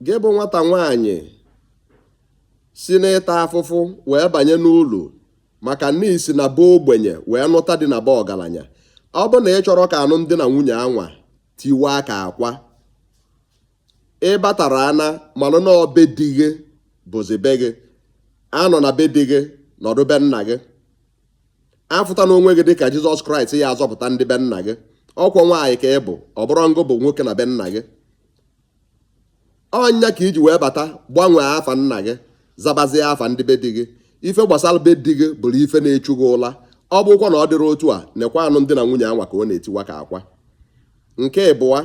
gị bụ nwata nwaanyị si n'ịta afụfụ wee banye n'ụlọ maka na i si na be ogbenye wee nụta di na be ọgalanya ọ bụ na ị chọrọ ka anụmdi na nwunye anwa tiwaa ka akwa ị batara ana malụ na ọ be di gị bụzi be gị anọna be di gị nọdụ be nna gị afụtana onwe gị dịka jizọs kraịst ya-azọpụta ndị be nna gị ọ kwọ nwaanyị ka ị bụ ọ bụrọ ngị bụ nwoke na be nna gị ọ nya ka i ji wee bata gbanwee afa nna gị zabazie afa ndị be di gị ife gbasalụ be di gị bụrụ ife na-echu gị ụla ọ bụkwa na ọ dịrọ otu a nekwa anụmdi na nwunye anwa ka ọ na-etiwa ka akwa nke ịbụa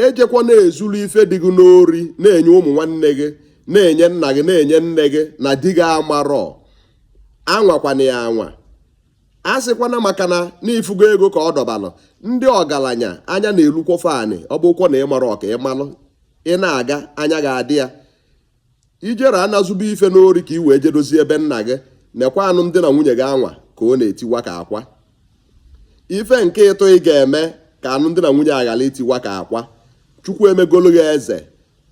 ejekwa na-ezulu ife di gị n'ori na-enye ụmụ nwanne gị na-enye nna gị na-enye nne gị na di gị amarọ anwakwana ya anwa asịkwana maka na ị fụgo ego ka ọ dọbalụ ndị ọgalanya anya na-elukwọ fa anị ọ bụkwọ na ị marọ ka ị malụ ị na-aga anya ga-adị ya i jere ana zuba ife n'ori ka i wee je dozie be nna gị nekwa anụmdi na nwunye gị anwa ka ọ na-etiwa ka akwa ife nke ịtọ ị ga-eme ka anụmdi na nwunye a ghala itiwa ka akwa chukwu emegolu gị eze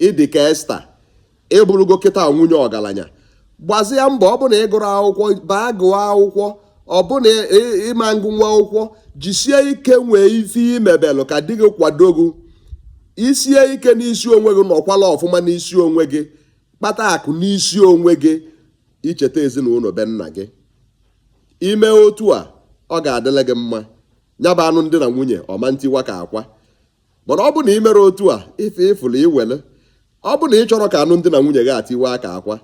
ị dị ka esta ị bụrụgo kịta nwunye ọgalanya gbazie mbọ ọ bụ na ị gụrọ akwụkwọ baa gụọ akwụkwọ ọ bụ na ị ma ngụnwu akwụkwọ jisie ike nwee ife ị mebelụ ka di gị kwado gị i sie ike n'isi onwe gị nọkwalụ ọfụma n'isi onwe gị kpata akụ n'isi onwe gị i cheta ezinụnọ be nna gị i me otu a ọ ga-adịlị gị mma nya bụ anụmdi na nwunye ọ ma ntiwa ka akwa mana ọ bụ na i merọ otu a ife ị fụlụ i wele ọ bụ na ị chọrọ ka anụmdi na nwunye gị a tiwaa ka akwa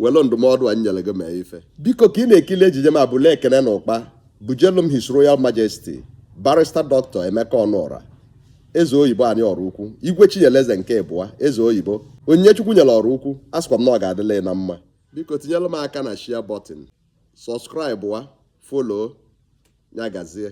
wele ndụmọdụ a nyere gị mee ife biko ka ị na-ekili ejije m a bulu ekene n'ụkpa bujelu m his royal majesty barrister dr emeka ọnụọra eze oyibo anyị ọraukwu igwe chinyeleze nke ịbụa eze oyibo onyinye chukwu nyere ọraukwu asịkwa m na ọ ga-adịla na mma biko tinyere m aka na share button subscribe wa follow ya gazie